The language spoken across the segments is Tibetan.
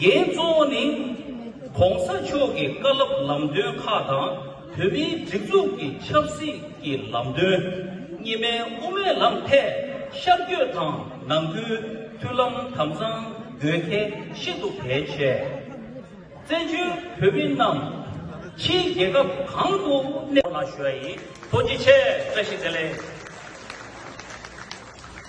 འགན་གཙོ་བོ་ནི ྋགོང་ས་མཆོག་གི་བཀའ་སློབ་ལམ་སྟོན་ཁག་དང་བོད་མིའི་སྒྲིག་འཛུགས་ཀྱི་ཆབ་སྲིད་ཀྱི་ལམ་སྟོན་རྙིང་མའི་དབུ་མའི་ལམ་ཐད་ཤར་བསྐྱོད་དང་ནང་ཁུལ་མཐུན་ལམ་དམ་གཙང་དགོས་གལ་ཤིན་ཏུ་གལ་ཆེ། བཙན་བྱོལ་བོད་མི་རྣམས་ཕྱིའི་རྒྱལ་ཁབ་གང་དུ་གནས། ལ་ཞུ་བ་ཡིན། ཐུགས་རྗེ་ཆེ་བཀྲ་ཤིས་བདེ་ལེགས།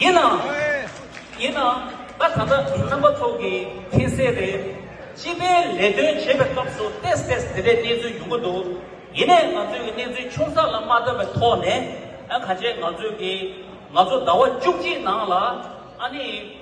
ཡིན་ནའང། ཡིན་ནའང། ད་ད་ལྟ་རྣམ་པ་ཚོགས་ཀྱིས་མཁྱེན་གསལ་རེད། སྤྱི་པའི་ལས་དོན་བྱེད་པའི་སྐབས་སུ་ཏས་ཏས་དེ་འདྲའི་གནས་ཚུལ་འབྱུང་གི་འདུག་ཡིན་ནའི་ང་ཚོས་གནས་ཚུལ་ཆུང་ས་ལ་མ་བལྟ་བའི་ཐོག་ནས། ག་ཆེད་ང་ཚོས་ཀྱིས་ང་ཚོ་ཟླ་བ་བཅུ་གཅིག་ནང་ལ། ཨ་ནི།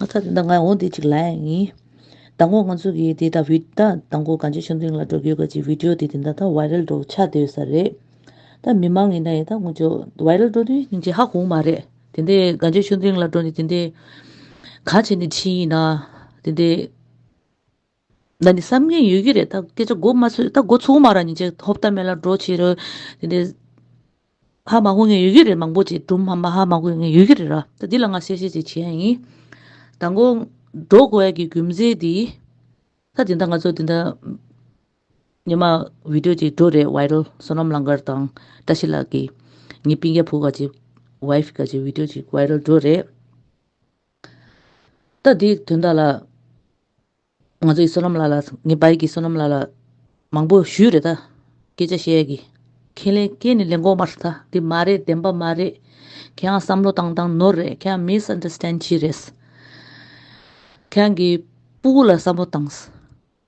ང་ཚ་འདི་ང་འོ་འདི་ཅིག་ལ་ཡིན། ད་ངོ་ང་ཚོ་གིས་འདི་ད་བི་ད་ད་ངོ་གངས་ཅན་ཆོས་འཛིན་ལ་འགྲོ་རྒྱུའི་སྐད་ཅིག Video དེ་དེ་འདྲ་ད Viral འགྲོ་ཆ་སྡོད་ས་རེད། ད་མི་མང་ཡིན་ན་ཡིན་ད་ངོ་ཅོ Viral འགྲོ་དུས་ཉིན་གཅིག་ཧ་གོ་མ་རེད། དེ་འདྲའི་གངས་ཅན་ཆོས་འཛིན་ལ་འགྲོ་ནས་དེ་འདྲའི་ག་བྱས་ནས་ཕྱིན་ཡིན་ན་དེ་འདྲའི། ད་ནི་བསམ་གྱིན་ཡོད་ཀྱི་རེད་ད་སྐད་ཆ་མགོ་མ་ཚོས་ད་མགོ་ཚུགས་མ་རག་ཉིན་ཅིག་ཧོབ་ལྟ་མེད་ལ་འགྲོ་བྱེད་རོལ། དེ་འདྲའི། ཧ་མ་གོ་ངེས་ཡོད་ཀྱི་རེད་མང་པོ་ཅིག་སྦྲུམ་མ་མ་ཧ་མ་གོ་ངེས་ཡོད་ཀྱི་རེད་ར་ད་འདི་ལ་ང་གསལ་བཤད་ཅིག་བྱེད་ཡ་ཡིན། ད་མགོ། འགྲོ་དགོས་ཡ་གི་རྒྱུ་མཚན་འདི། ད་དེ་འདྲ་ང་ཚོ་དེ་འདྲ། ཉི་མ། བི་དོ་ཅིག་འགྲོ་རེད་བྷའི་རོལ་བསོད་ནམས་གླང་དཀར་དང་བཀྲ་ཤིས་ལགས་ཀྱི། ངའི་སྤིན་རྒྱ་བུ་ག་ཅིག། Wife། ག་ཅིག་བི་དོ་ཅིག་བྷའི་རོལ་འགྲོ་རེད། ད་འདི་དོན་དག་ལ། ང་ཚོ་ཡི་བསོད་ནམས་ལ་ལ་ངེད་བ་ཡི་གི་བསོད་ནམས་ལ་ལ། མང་པོ་ཞུས་རེད་ད། སྐད་ཆ་བཤད་ཡ་གི། ཁས་ལེན་སྐད་ནི་ལེན་གོང་མར་ད་འདི་མ་རེད་བདེན་པ་མ་རེད། ཁྱེད་རང་བསམ་བློ་བཏང་བཏང་ནོར་རེད་ཁྱེད་རང་མིས་འདི་སྟན་ཕྱིས་རེད། ཁྱེད་རང་གི་སྤུ་གུ་ལ་བསམ་བློ་བཏང།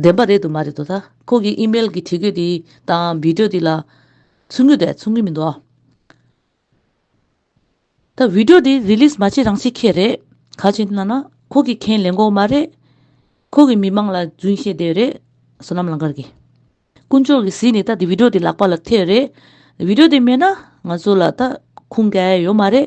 བདེན་པ་རེད་དུ་མ་རེད་དོ་ད་ཁོང་གི་ཨི་མེལ་གྱི་བྲིས་འགོད་དེ་དང་བི་དྲོ་དེ་ལ་ཚུར་ངོས་དེ་ཚུར་ངོས་མི་འདུག་ད་བི་དྲོ་དེ་རི་ལིས་མ་བྱེད་རང་བྱེད་ཁེ་རེད་ག་ཅིན་ན་ན་ཁོང་གི་ཁེན་ལེན་གོ་མ་རེད་ཁོང་གི་མི་མང་ལ་རྫུན་བཤད་དེ་རེད་བསོད་ནམ་ལང་ཀར་གི་དཀོན་མཆོག་གི་ཟིས་ནི་ད་དེ་བི་དྲོ་དེ་ལག་པ་ལ་ཐེ་རེད་བི་དྲོ་དེ་མེད་ན་ང་ཚོ་ལ་ད་ཁུངས་སྐྱེལ་ཡོད་མ་རེད།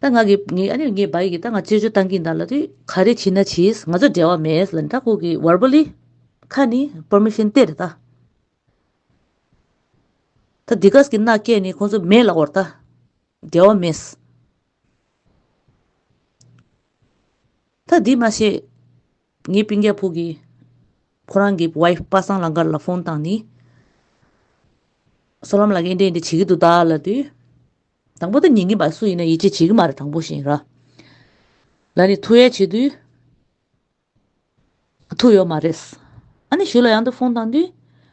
ད་ང་གི་ངས་ཨ་ནེ་ངས་བ་ཡིག་གི་ད་ང་བཅོས་བཅོས་བཏང་གིན་ད་ལ་དུས་ག་རེ་བྱིན་ན་བྱིས་ང་ཚོ་འབྲེལ་བ་མེད་ལ་ད་ཁོ་གི་བར་པོ་ལི་ཁ་ནི་པར་མི་ཤེན་ཏེར་ད། ད་དེ་ག་ས་གི་ན་སྐད་ནི་ཁོ་ཚོ་མེད་ལ་བར་ད་འབྲེལ་བ་མེད། ད་དེ་མ་ཤེས་ངའི་པིང་རྒྱ་ཕུག་གི་ཁོ་རང་གི་བ་ཡིག་པ་སངས་ལང་ཀར་ལ་ཕོན་བཏང་ནི། སོ་ལམ་ལ་ཀ་ཨིན་དྲ་ཨིན་དྲ་བྱེད་ཀི་འདུག་ད་ལ་དུས། དང་པོ་དང་ཉེ་གཉིས་པ་སུ་ཡིན་ན་ཡིད་ཆེས་བྱེད་ཀྱི་མ་རེད་དང་པོ་བཞིན་ར་ལ་ནི་ཐུགས་ཡ་བྱེད་དུས་ཐུགས་ཡོད་མ་རེད། ཨ་ནི་ཞུ་ལ་ཡང་དུ་ཕོང་བཏང་དུས་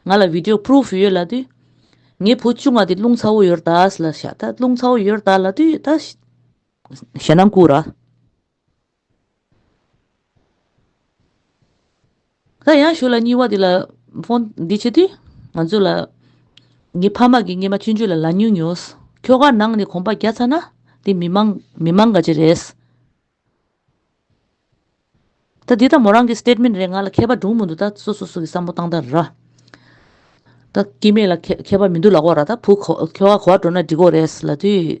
ང་ལ video proof ཡོད་ལ་དུས་ངའི་བུ་ཆུང་བ་དེ་རླུང་ཚ་བོ་ཡོད་ར་ལ་ཤ་ད་རླུང་ཚ་བོ་ཡོད་ར་ལ་དུས་ད་ཞེ་ན་མགུ་ར། ད་ཡང་ཞུ་ལ་སྙི་བ་འདི་ལ་ཕོན་འདི་བྱེད་དུས་ང་ཚོ་ལ་ངའི་ཕ་མ་གི་སྙེ་མ་མཆུ་མཆུ་ལ་ལ་ཉུག་ཉུག་ཁྱོ་ག་ནང་ནས་གོམ་པ་རྒྱག་ཚར་ན་འདི་མི་མང་མི་མང་ག་ཅི་རེད། ད་འདི་ད་མོ་རང་གི statement རེད་ང་ལ་ཁྱད་པ་འབྲུག་མོ་འདུག་ད་སོ་སོ་སོ་གི་བསམ་བོ་བཏང་ད་ར། ད་སྐྱེ་མེད་ལ་ཁྱད་པ་མི་འདུག་ལ་གོ་ར་ད་བུ་ཁྱོ་ག་གོ་བ་འགྲོ་ན་འགྲིག་གོ་རེད་ལ་དུས།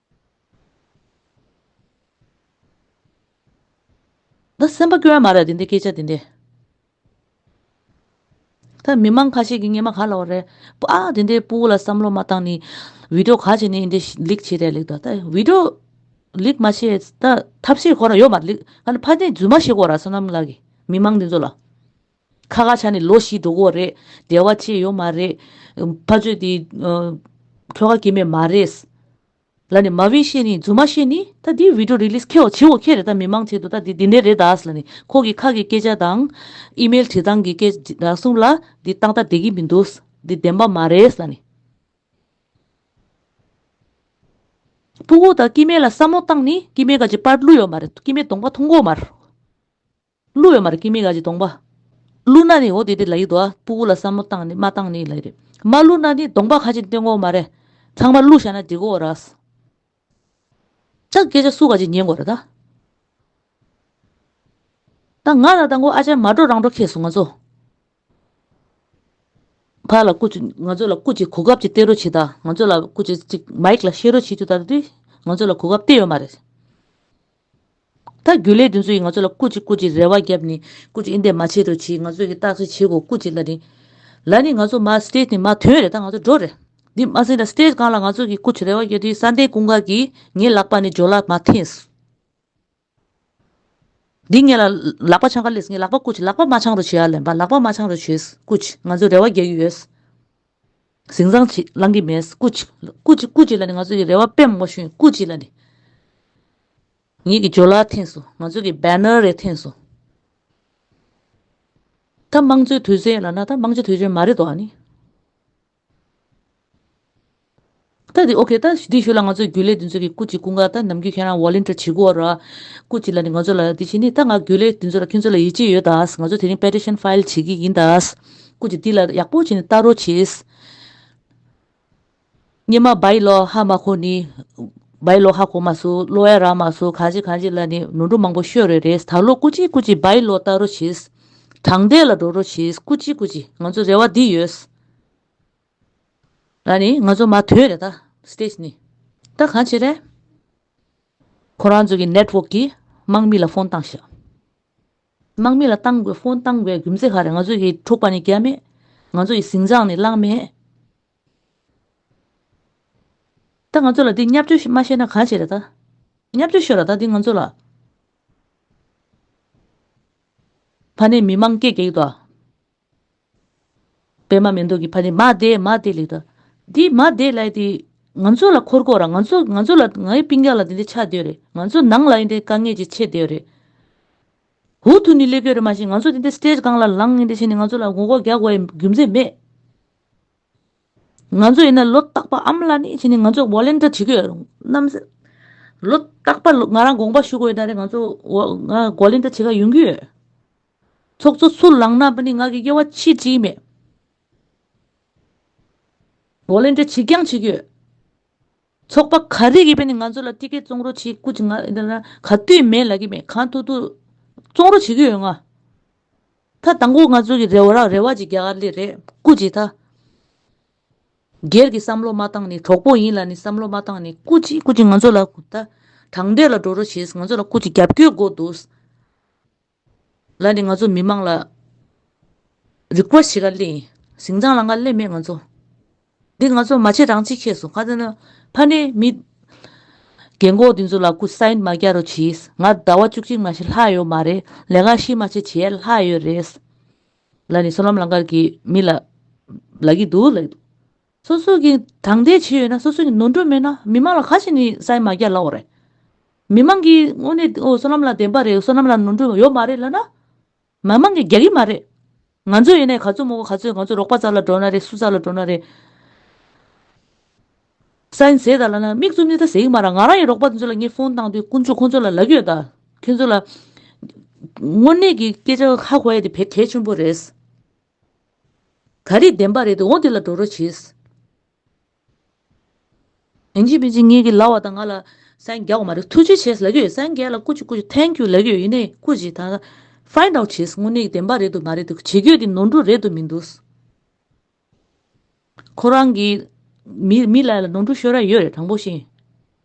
ད་སེམས་པ་སྐྱོ་ཡ་མ་རེད་དེ་འདི་སྐད་ཆ་དེ་འདི། ད་མི་མང་ཁ་ཤས་ཀྱི་སྙེ་མ་ག་ལ་བ་རེད་པ་ཨ་དེ་འདི་སྤུ་བོ་ལ་བསམ་བློ་མ་བཏང་ནི་བིདོ་ག་བྱེད་ནི་འདི་ལིག་བྱེད་རེད་ལིག་ད་ད་བིདོ་ལིག་མ་བྱེད་ད་ཐབས་ཤེས་ཁོ་རང་ཡོད་མ་རེད་ལིག་ཨ་ནི་ཕ་དེ་རྫུན་མ་བྱེད་གོ་ར་བསོད་ནམས་ལགས་ཀྱི་མི་མང་འདི་ཚོ་ལ་ཁ་ཁ་བྱ་ནི་ལོ་བཞི་འགྲོ་གོ་རེད་འབྲེལ་བ་བྱེད་ཡོད་མ་རེད། ཕ་ཚོས་དེ་ཁྱོ་ག་སྐྱེས་མེད་མ་རེད། ལ་ནི་མ་བྷི་ཤེ་ནི་རྫུན་མ་བཤད་ནི་ད་དེའི་བྷི་དྲོ་རི་ལིས་ཁེའོ་བྱེད་འོ་ཁེ་རེད་ད་མི་མང་ཆེད་དུ་ད་དེ་དེ་འདྲས་རེད་དཱས་ལ་ནི་ཁོ་གི་ཁ་གི་སྐད་ཆ་དང། ཨི་མེལ་བྲིས་སྟངས་གི་སྐད་ཆ་རང་གསུངས་ལ་དེ་སྟངས་ད་དེ་གི་མི་འདུག་དེ་བདེན་པ་མ་རེད་ལ་ནི། ཕུ་བོ་དང་ཀི་མེ་ལ་བསམ་བློ་བཏང་ནི་ཀི་མེ་ག་ཅི་པར་བསླུ་ཡོད་མ་རེད་ཀི་མེ་གདོང་པ་མཐོང་གོ་མ་རེད། ཀླུ་ཡོད་མ་རེད་ཀི་མི་ག་ཅིག་སྡོང་པ། ཀླུ་ནག་ནི་ཨོ་དེ་དེ་ལ་ཡིག་འདུག་ཨ་སྤུ་བོ་ལ་བསམ་བློ་བཏང་ནི་མ་བཏང་ནི་ཡིག་ལ་ཡིག་རེད། མ་ཀླུ་ནག་ནི་སྡོང་པ་ག་ཅིག་སྟོན་དགོས་མ་རེད། ཚང་མ་ཀླུ་བཞག་ན་འགྲིག་གོ་ར། ཅག་སྐད་ཆ་སུ་ག་ཅིག་ཉན་དགོས་རེད་ད། ད་ང་ད་ད་མགོ་ཨ་ཅག་མ་འགྲོ་རང་འགྲོ་ཁེས་སོང་ང་ཚོ། ཕར་ལ་སྐུ་ཅིག་ང་ཚོ་ལ་སྐུ་ཅིག་གོ་སྐབས་ཅིག་སྟེར་རོགས་བྱེད་དང་ང་ཚོ་ལ་སྐུ་ཅིག་ཅིག་མཱིཀ་ལ་བཤད་རོགས་བྱེད་རྒྱུ་དང་དུས་ང་ཚོ་ལ་གོ་སྐབས་སྟེར་ཡོད་མ་རེད། ད་རྒྱུ་ལས་དེ་ཚོ་ཡིས་ང་ཚོ་ལ་སྐུ་ཅིག་སྐུ་ཅིག་རེ་བ་བརྒྱབ་ནས་སྐུ་ཅིག་ཨིན་དེ་མ་བྱེད་རོགས་བྱེད་ང་ཚོ་གིས་བརྟག་དཔྱད་བྱེད་གོ་སྐུ་ཅིག་ལ་ནི། ལ་ནི་ང་ཚོ་མ་སྟེ་ནི་མ་དོན་རེད་ད་ང་ཚོ་འགྲོ་རེད། འདི་སྨྲ་ཟིན་ལ་སྟེ་གང་ལ་ང་ཚོ་གིས་སྐུ་ཅིག་རེ་བ་བརྒྱབ་དུས་ས་གདན་ཀུན་དགའ་གིས་ངའི་ལག་པ་ནས་སྦྱོར་ལག་མ་འཐེན། འདི་ངེད་ལ་ལག་པ་འཆང་ག་ལེས་ངས་ལག་པ་བཀུག་ལག་པ་མ་འཆང་རུ་བྱེད་ཨ་ལན་པ་ལག་པ་མ་འཆང་རུ་བྱེད་བཀུག་ཅིག་ང་ཚོས་རེ་བ་རྒྱག་གི་ཡོད། ཟིང་ཟང་ཅིག་བླང་གི་མེད་བཀུག་ཅིག་བཀུག་ཅིག་བཀུག་ཅིག་ལ་ནི་ང་ཚོས་ཀྱི་རེ་བ་པེམ་མོ་ཤུན་བཀུག་ཅིག་ལ་ནི། ངེད་ཀྱི་འཇོ་ལགས་ཐེངས་སུ་ང་ཚོས་ཀྱི་བེ་ནོར་རེ་ཐེངས་སུ། ད་དམངས་གཙོའི་དུས་ཚོད་ཡིན་ལ་ན་ད་དམངས་གཅོ་དུས་ཆོད་མ་རེད་དོ་ཨ་ནི། ད་དེ་ཨོ་ཁེ། ད་དེ་ཞུ་ལ་ང་ཚོས་རྒྱུན་ལས་དེ་ཚོའི་གི་སྐུ་གཅིག་སྐུ་འགག་ད་ནམ་རྒྱུན་ཁྱེད་རང་བྷོ་ལིན་ཏེར་བྱེད་དགོས་ར། སྐུ་གཅིག་ལ་ནི་ང་ཚོ་ལ་དེ་བཞིན་ནི་ད་ང་རྒྱུན་ལས་དེ་ཚོ་ལ་ཁྱེད་ཚོ་ལ་ཡིད་ཆེས་ཡོད་ད་ང་ཚོས་དེ་རིང Petition File བྱེད་ཀྱི་ཡིན་ད། སྐུ་གཅིག་འདི་ལ་ཡག་པོ་བྱེད་ནི་ལྟ་རོགས་བྱེད། སྙེ་མ་བྷའི་ལོ་ཧ་མ་ཁོ་ནི། བྷའི་ལོ་ཧ་ཁོ་མ་སུ་ལོ་ཡ་ར་མ་སུ་གང་བྱེད་གང་བྱེད་ལ་ནི་ནོར་འཁྲུལ་མང་པོ་ཤོད་རེ་རེད་ད་ལོ་སྐུ་གཅིག་སྐུ་གཅིག་བྷའི་ལོ་ལྟ་རོགས་བྱེད། དྲང་བདེན་ལ་འགྲོ་རོགས་བྱེད་སྐུ་གཅིག་སྐུ་གཅིག་ང་ཚོ་རེ་བ་འདི་ཡོད། ད་ནི་ང་ཚོ་མ་ཐོན་རེད་ད stage ནི། ད་གང་བྱེད་རེད། ཁོ་རང་ཚོ་གི network གིས་དམག་མི་ལ་ཕོན་བཏང་ཤག། དམག་མི་ལ་བཏང་དགོས་ཕོན་བཏང་དགོས་རྒྱུ་མཚེ་ག་རེད་ང་ཚོ་གི་འཁྲུག་པ་ནི་རྒྱ་མེད། ང་ཚོ་ཡི་ཟིང་ཟངས་ནི་གླང་མེད། ད་ང་ཚོ་ལ་འདི་མཉམ་སྤྱོད་མ་ཤེས་ན་གང་བྱེད་རེད་ད། མཉམ་སྤྱོད་ཤོད་ར་ད་འདི་ང་ཚོ་ལ། ཕ་ནི་མི་དམངས་སྐད་གེགས་དོ། པད་མ་མེ་ཏོག་གི་ཕ་ནི་མ་དེ་མ་དེ་ལེགས་ད། འདི་མ་དེ་ལེགས་དེ། ང་ཚོ་ལ་འཁོར་སྐོར་ར་ང་ཚོ་ང་ཚོ་ལ་ང་ཡི་པིང་ཀ་ལ་དེ་འདི་ཆགས་དེ་རེད་ང་ཚོ་ནང་ལ་ཡིན་དེ་དཀའ་ངལ་གྱི་ཆེ་དེ་རེད། ཧུ་ཐུ་ནི་ཀླད་ཀོས་རེད་མ་གཞི་ང་ཚོ་དེ་འདི Stage གང་ལ་ལངས་ཡིན་དེ་བཞིན་ནི་ང་ཚོ་ལ་ངོ་ལྐོག་རྒྱག་དགོས་རྒྱུ་མཚན་མེད། ང་ཚོ་ཡིན་ན་ལོ་རྟག་པ་ཨམ་ལ་ནི་བཞིན་ནི་ང་ཚོ Volunteer བྱེད་ཀྱི་རྣམ་སེམས་ལོ་རྟག་པ་ང་རང་དགོངས་པ་ཞུ་དགོས་ཡིན་ད་རེད་ང་ཚོ Volunteer བྱེད་ཀྱི་ཡོང་གི་ཡོད། ཚོགས་གཙོ་ཚུར་ལངས་ན་པ་ནི་ང་གི་དབྱེ་བ་ཅི་བྲིས་མེད། འོ་ལེན་འདྲ་བྱེད་རྐྱང་བྱེད་ཀྱི་ཡོད། ཚོགས་པ་ག་རེ་ཡིས་པ་ནི་ང་ཚོ་ལ་སྟི་གས་བཙོང་རོགས་བྱེད་ཀུ་ཅི་ང་ཨི་ལ་ག་དུས་མེད་ལ་གི་མེད་གང་ཐུག་ཐུག་བཙོང་རོགས་བྱེད་ཀྱི་ཡོད་ང། ད་དང་པོ་ང་ཚོ་གི་རེ་བ་རེ་བ་ཅིག་རྒྱ་གར་ལི་རེད་ཀུ་ཅི་ད། སྒེར་གི་བསམ་བློ་མ་བཏང་ནི་གྲོགས་པོ་ཡིན་ལ་ནི་བསམ་བློ་མ་བཏང་ནི་ཀུ་ཅི་ཀུ་ཅི་ང་ཚོ་ལ་ད་དྲང་བདེན་ལ་འགྲོ་རོགས་བྱེད་ང་ཚོ་ལ་ཀུ་ཅི་རྒྱབ་སྐྱོད་དགོས་འདུག། ལ་ནི་ང་ཚོ་མི་མང་ལ་རིག་པ་ཞིག་ག་ལེན་ཞིང་ཅང་ལ་ང་ལེན་མེད་ང་ཚོ་འདི་ང་ཚོ་མ་བྱེད་རང་བྱེད་ཁེས་སོང་ག་ཚད་ན་ཕ་ནི་མི་རྒན་གོག་འདི་ཚོ་ལ་ཁུ་སིན་མ་རྒྱག་རོགས་གྱིས་ང་ཟླ་བ་བཅུ་གཅིག་མ་ཤི་ལྷག་ཡོད་མ་རེད་ལས་ཀ་ཤི་མ་བྱེད་བྱས་ལྷག་ཡོད་རེད། ལ་ནི་སོ་ལམ་ལང་ཀར་གྱི་མི་ལ་ལ་གི་འདུག་ལ་གི་འདུག། སོ་སོ་གིས་དྲང་བདེན་བྱས་ཡོད་ན་སོ་སོ་གིས་ནོར་འཁྲུལ་མེད་ན་མི་མང་ལ་ག་ཞིག་ནི་ས་ཡི་མ་རྒྱ་ལགས་བ་རེད། མི་མང་གིས་དངོས་གནས་ཨོ་བསོད་ནམས་ལ་བདེན་པ་རེད་བསོད་ནམས་ལ་ནོར་འཁྲུལ་ཡོད་མ་རེད་ལབ་ན། མི་མང་གིས་རྒྱག་གི་མ་རེད། ང་ཚོས་ཡིན་ནའི་ག་ཚོད་མོ་ག་ཚོད་ང་ཚོས་རོགས་པ་ཙར་ལ་འགྲོ་ན་རེད་སུ་ཙར་ལ་འགྲོ་ན་རེད། ས་ཡིན་ཟེར་ད་ལབ་ན་མིག་ཆུ་མིག་ད་ཟེར་གི་མ་ར་ང་རང་ཡིན་རོགས་པ་དེ་ཚོ་ལ་ངས་ཕོན་བཏང་དུས་དཀོན་མཆོག་ཁོང་ཚོ་ལ་ལབ་ཡོད་ད། ཁྱོད་ཚོ་ལ། དངོས་གནས་ཀྱི་སྐད་ཆ་ཧ་གོ་ཡ་དེ་བས་གལ་ཆེན་པོ་རེད། ག་རེ་བདེན་པ་རེད་དེ་འོ་དེ་ལ་འགྲོ་རོ་བྱེད། ཨིན་ཇི་མིན་ཇི་ངེད་ཀྱི་ལ་བ་དང་ང་ལ་སན་རྒྱ་གོ་མ་རེད་ཐུགས་རྗེ་ཆེ་ལ་གྱུ་ཡོད་སན་རྒྱ་ལ་སྐུ་ཅི་སྐུ་ཅི་ཐན་ཀྱུ་ལ་གྱུ་ཡོད་ཡིན་ནའི་སྐུ་ཅི་ད Find out བྱེད་དངོས་གནས་བདེན་པ་རེད་དུ་མ་རེད་དུ་བྱེད་གྱོད་དེ་ནོར་འཁྲུལ་རེད་དུ་མིན་འདུག་ཁོ་རང་གིས་མི་ལ་ལ་ནོར་འཁྲུལ་ཤོད་ར་ཡོད་རེད་དྲང་པོ་བཤད།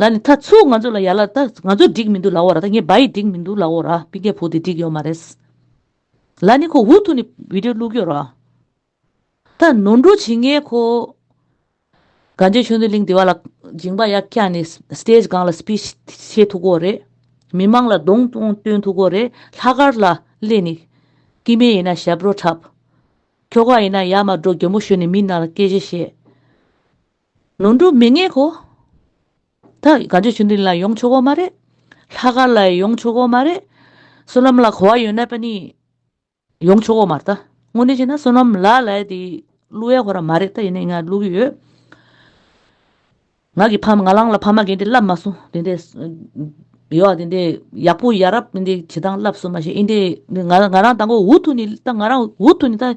ལ་ནི་ད་ཚུགས་ང་ཚོ་ལ་ཡ་ལ་ད་ང་ཚོ་འགྲིག་མི་འདུག་ལ་འོ་ར་ད་ངའི་བ་ཡི་འགྲིག་མི་འདུག་ལ་འོ་ར་པི་ཀའི་བུ་དེ་འགྲིག་ཡོད་མ་རེད། ལ་ནི་ཁོ་འུ་ཐུག་ནས་བི་དྲོ་བླུག་གི་རོ། ད་ནོར་འགྲོ་བྱེད་ངའི་ཁོ། ག་མཇེ་ཆོས་འདོན་གླིང་དེ་བ་ལ་སྦྱིན་པ་ཡག་སྐྱ་ནས Stage སྒང་ལ Speech བྱེད་ཐུག་གོ་རེད། མི་མང་ལ་གདོང་མཐོང་སྟོན་ཐུག་གོ་རེད་ལྷ་དཀར་ལ་སླེ་ནི། ཀི་མེ་ཡིན་ན་ཞབས་བྲོ་འཁྲབ། ཁྱོ་ག་ཡིན་ན་ཡ་མ་འགྲོ་གྱོ་མོ་ཞོན་ནས་མི་རྣ་ལ་སྐད་ཆ་བཤད། ལོ་འགྲོ་མི་ངན་གོ། ད་ག་རྗེ་ཆུང་དེ་ལ་ཡོང་ཆོག་གོ་མ་རེད། ལྷ་དཀར་ལ་ཡི་ཡོང་ཆོག་གོ་མ་རེད། བསོད་ནམས་ལ་གོ་བ་ཡོད་ན་པ་ནི་ཡོང་ཆོག་གོ་མ་རེད་ད། དངོས་གནས་བྱས་ན་བསོད་ནམས་ལ་ལ་ཡི་དེ་བསླུ་ཡ་གོ་ར་མ་རེད་ད་ཡིན་ནའི་ང་བསླུ་གི་ཡོད། ང་གི་ཕ་མ་ང་ལང་ལ་ཕ་མ་རྒན་དེ་བསླབས་མ་སོང་དེ་འདྲས་ཡོ་ཨ་དེ་འདྲས་ཡག་པོ་ཡ་རབས་དེ་འདྲས་བྱེད་སྟངས་བསླབས་སོང་མ་ཤེས་ཨིན་དེ་ང་རང་ད་མགོ་འུ་ཐུག་ནི་ད་ང་རང་འུ་ཐུག་ནི་ད་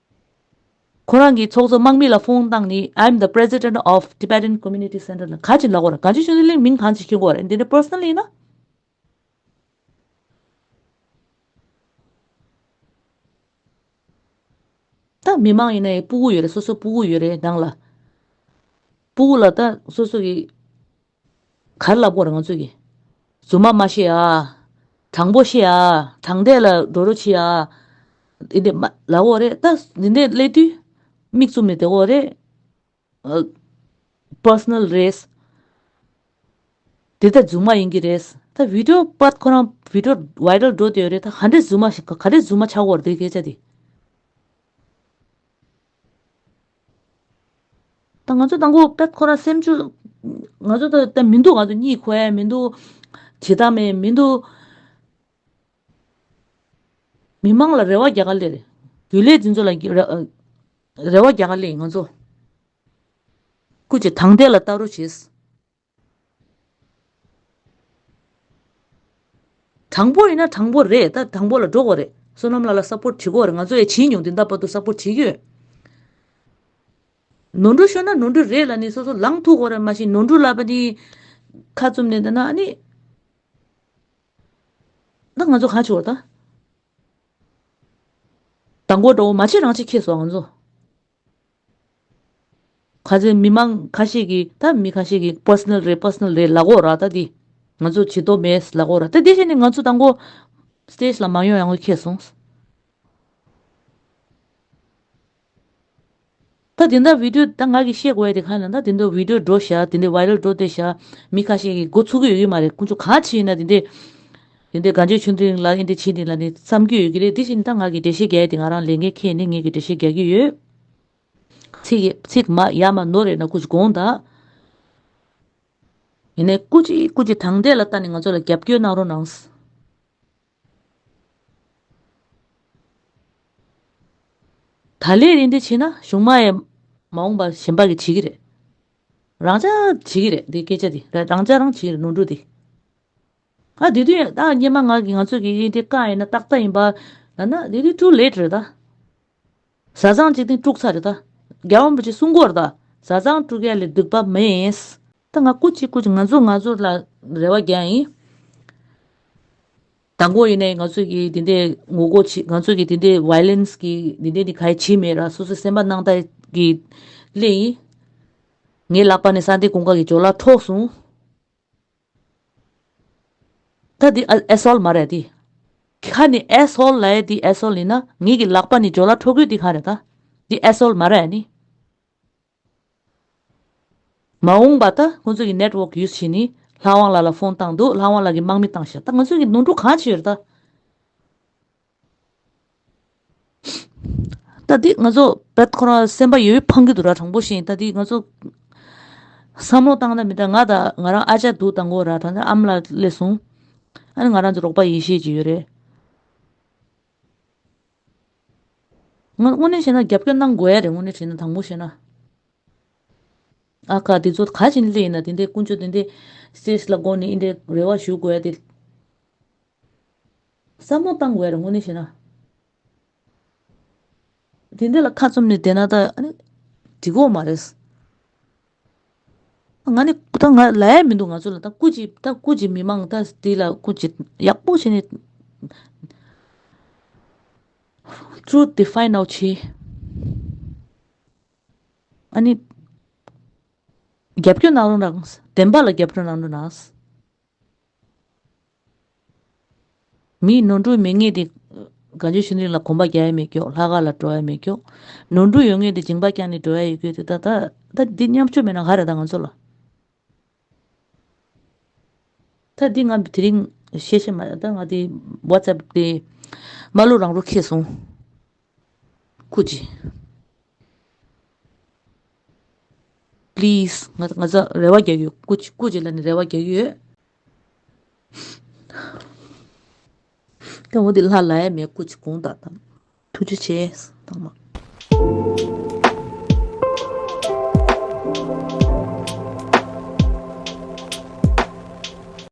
ཁོ་རང་གིས་ཚོགས་གཙོ་དམག་མི་ལ་དཔུང་བཏང་ནས I am the president of Tibetan Community Center ལ་ག་ཅིག་ལག་པར་གང་ཅིག་ཤོད་ལེ་མིང་གང་ཅིག་ཤོད་དགོས་རེད་འདི་འདྲའི personal ཡིན་ན། ད་མི་མང་ཡིན་ན་ཡང་སྤུ་གུ་ཡོད་རེད་སོ་སོ་སྤུ་གུ་ཡོད་རེད་ནང་ལ། སྤུ་གུ་ལ་ད་སོ་སོ་གིས། གར་བསླབ་སྐོར་རང་ཚོད་ཀྱིས། རྫུན་མ་མ་ཤེས་ཨ། དྲང་པོ་ཤེས་ཨ། དྲང་བདེན་ལ་འགྲོ་རུ་མཆིས་ཨ། འདི་འདྲས་མ་ལ་འོག་རེད་ད། འདི་འདྲས་སླེབས་དུས་མིག་བཙུམ་ནས་དེ་འོག་རེད། Personal རེད། འདི་ད་རྫུན་མ་ཡིན་གྱི་རེད། ད Video དཔར་ཁོ་རང Video Viral འགྲོ་འདོད་རེད་ད་ག་འདྲས་རྫུན་མ་ག་འདྲས་རྫུན་མ་ཆགས་སྐོར་དེ་སྐད་ཆ་དེ། ད་ང་ཚོ་ད་ཁོ་པད་ཁོ་ར་སེམས་ཆུ། ང་ཚོ་ད་ད་མི་འདུག་ང་ཚོ་གཉིད་ཁོལ་མི་འདུག། བྱེད་སྟངས་མེད་མི་འདུག། མི་དམངས་ལ་རེ་བ་རྒྱག་ག་ལེ་རེད། རྒྱུན་ལས་འཛིན་ཚོ་ལ་རེ་བ་རྒྱག་ག་ལེ་ཡིན་ང་ཚོ། སྐུ་ཆེ་དང་བདེ་ལ་བལྟ་རོ་བྱེད། དྲང་པོ་ཡིན་ན་དྲང་པོ་རེད་ད་དྲང་པོ་ལ་འགྲོ་དགོས་རེད་བསོད་ནམས་ལ་ལ་སབ་པོར་བྱེད་དགོས་རེད་ང་ཚོ་ཡས་བྱིན་མྱོང་དེ་འདའ་བར་དུ་སབ་པོར་བྱེད་ཀྱི་ཡོད། ནོར་འཁྲུལ་ཤོར་ན་ནོར་འཁྲུལ་རེད་ལ་ནི་སོ་སོ་ལངས་ཐུག་དགོས་རེད་མ་གཞི་ནོར་འཁྲུལ་ལབ་པ་ནི་ཁ་བཙུམ་ནས་འདི་ན་ནི་ད་ང་ཚོ་ག་བྱེད་དགོས་རེད་ད། ད་མགོ་འདྲ་བོ་མ་བྱེད་རང་བྱེད་ཁེ་སོང་ང་ཚོ། ཁ་ཚོན་མི་མང་ཁ་ཤས་ཀྱི་ད་མི་ཁ་ཤས་ཀྱི Personal རེད Personal རེད་ལགས་འོ་ར་ད་དེ། ང་ཚོ་བྱེད་དོ་མེད་ལགས་འོ་ར་ད་དེ་བཞིན་ནི་ང་ཚོ་དང་པོ། Stage ལ་མ་ཡོང་ཡང་འཁེལ་སོང། ད་དེ་འདྲ Video ད་ང་གི་བཤད་དགོས་དེ་གང་ཡིན་ན་ད་དེ་འདྲ Video འགྲོ་བཞག་དེ་འདྲ Viral འགྲོ་ལྟོས་བཞག་མི་ཁ་ཤས་ཀྱི་མགོ་ཚུགས་ཀྱི་ཡོད་ཀྱི་མ་རེད་ཁོང་ཚོ་གང་བྱེད་ཡིན་ན་དེ་འདྲའི། དེ་འདྲའི་དགའ་འབྱོར་ཆུང་འདི་རིང་ལ་ཨིན་དེ་ཕྱིན་འདི་ལ་ནི་བསམ་རྒྱུ་ཡོད་ཀྱི་རེད་དེ་བཞིན་ད་ང་གི་འགྲེལ་བཤད་རྒྱས་ཏེ་ང་རང་ལས་འགན་ཁེལ་ནས་ངེད་ཀྱི་འགྲེལ་བཤད་རྒྱག་རྒྱུ་ཡོད། ཚིག། མ་ཡ་མ་ནོར་རེད་ན་ཀུ་ཅི་དགོངས་དག། ཡིན་ནའི་ཀུ་ཅི་ཀུ་ཅི་དང་འདྲས་ལ་ད་ནི་ང་ཚོ་ལ་རྒྱབ་སྐྱོར་གནང་རོགས་གནང། ད་ལས་རིན་དེ་ཕྱིན་ན་གཞུང་མ་ཡས་མ་འོངས་པ་གཞན་པ་གི་བྱེད་ཀྱི་རེད། རང་ཅག་བྱེད་ཀྱི་རེད་འདི་སྐད་ཆ་འདི་རང་ཅག་རང་བྱེད་ཀྱི་རེད་ནོར་འཁྲུལ་འདི། ཨ་དེ་དུས་ད་སྙན་མ་ངག་གི་ང་ཚོས་ཀྱི་ཡིན་དེ་ཀ་ཡིན་ན་ཏག་ཏག་ཡིན་པ། ཡང་ན་དེ་དུས too late རེད་ད། བཟའ་ཚང་གཅིག་དེང་དཀྲུག་ཚར་རེད་ད། རྒྱ་བོད་མི་གཅིག་སྲུང་འཁོར་ད། བཟའ་ཚང་དཀྲུག་མཁན་ལས་སྡིག་པ་མེད། ད་ང་ཀུ་ཅི་ཀུ་ཅི་ང་ཚོ་ང་ཚོ་ལ་རེ་བ་རྒྱག་ཡིན། ད་མགོ་ཡིན་ནའི་ང་ཚོས་ཀྱི་དེ་འདའི་ངོ་རྒོལ་བྱེད་ང་ཚོས་ཀྱི་དེ་འདའི violence གི་དེ་འདའི་ནི་ག་ཡིས་བྱེད་མེད་ར་སོ་སོས་སེམས་པ་སྣང་དག་གི་སླད་ཡིན། ངའི་ལག་པ་ནས་ས་འདའི་གོང་ཁ་གི་ཇོ་ལ་འཕྲོག་སོང། ད་འདི་ཨ་ཨེ་སོལ་མ་རེད་དེ། ཁ་ནི་ཨེ་སོལ་ལའེ་འདི་ཨེ་སོལ་ཡིན་ན་ངེད་ཀྱི་ལག་པ་ནི་ཇོ་ལ་ཁྲོ་གུས་འདི་གང་རེད་ད། འདི་ཨེ་སོལ་མ་རེད་ནི། མ་འོངས་པ་ད་ཁོང་ཚོས་ཀྱི network use བྱེད་ནི་ལྷ་དབང་ལགས་ལ་ཕོན་བཏང་འདུག་ལྷ་དབང་ལགས་ཀྱི་དམག་མི་བཏང་ཤག་ད་ང་ཚོས་ཀྱི་ནོར་འཁྲུལ་གང་བྱས་ཡོད་རེད་ད། ད་དེ་ང་ཚོ་བོད་ཁོ་ན་སེམས་པ་ཡོད་ཡོད་འཕང་གི་འདུག་ར་དྲང་པོ་བཞིན་ད་དེ་ང་ཚོ་བསམ་བློ་བཏང་ན་མི་འདྲ་ང་དང་ང་རང་ཨ་ཅག་འདུག་དང་པོ་ར་དང་ཨ་མ་ལ་སླེབས་གསུང་ཨ་ནི་ང་རང་ཚོ་རོགས་པ་ཡིན་ཤེས་ཀྱི་ཡོད་རེད། ང་དངོས་གནས་བཤད་ན་རྒྱབ་སྐྱོར་གནང་དགོས་ཡ་རེད་དངོས་གནས་བྱས་ན་དང་པོ་བཤད་ན། ཨ་ཁ། དེ་ཚོ་ག་བྱིན་ལེ་ཡིན་ན་དེ་འདྲའི་ཀུན་སྤྱོད་དེ་འདྲའི་སེར་ལ་དགོངས་ནས་འི་འདྲའི་རེ་བ་ཞུ་དགོས་དེ། བསམ་བློ་བཏང་དགོས་རེད་དངོས་གནས་བྱས་ན། དེ་འདྲ་ལ་ཁ་བཙུམ་ནས་བསྡད་ན་ད་ཨ་ནི་འགྲིག་གོ་མ་རེད། ང་ནི་ད་ང་ལ་ཡ་མི་འདུག་ང་ཚོ་ལ་ད་སྐུ་གཅིག་ད་སྐུ་གཅིག་མི་མང་ད་དེ་ལ་སྐུ་གཅིག་ཡག་པོ་བྱས་ནས། Truth define out བྱས། ཨཱ་ནི། རྒྱབ་སྐྱོར་གནང་རོགས་གནང། བདེན་པ་ལ་རྒྱབ་སྐྱོར་གནང་རོགས་གནང། མིའི་ནོར་འཁྲུལ་མེད་ངེས་དེ། གངས་ཆུ་ཤིང་རིང་ལ་གོམ་པ་རྒྱག་ཡས་མེད་སྐྱོག་ལྷ་ག་ལ་འགྲོ་ཡས་མེད་སྐྱོག། ནོར་འཁྲུལ་ཡོད་ངེས་དེ་འགྱིང་བག་བསྐྱངས་ནས་འགྲོ་ཡས་ཡོད་སྐྱོག་དེ་ད་ད་འདི་མཉམ་སྤྱོད་མེད་ན་ག་རེ་ད་ང་ཚོ་ལ། ད་འདི་ང་དེ་རིང་ཤེས་ཤེས་མ་རེད་ད་ང་དེ་བྷ་ཙེབ་དེ། མ་ལོ་རང་རོ་ཁེ་སོང། ཀུ་ཅི། Please ང་ཚོ་རེ་བ་རྒྱག་ཡོད། ཀུ་ཅི་ཀུ་ཅི་ལ་ནི་རེ་བ་རྒྱག་ཡོད། སྐྱོ་བོ་འདི་ལྷ་ལ་ཡ་མེད་ཀུ་ཅི་གུང་བརྡ་དང། ཐུགས་རྗེ་ཆེ། སྟག་མ།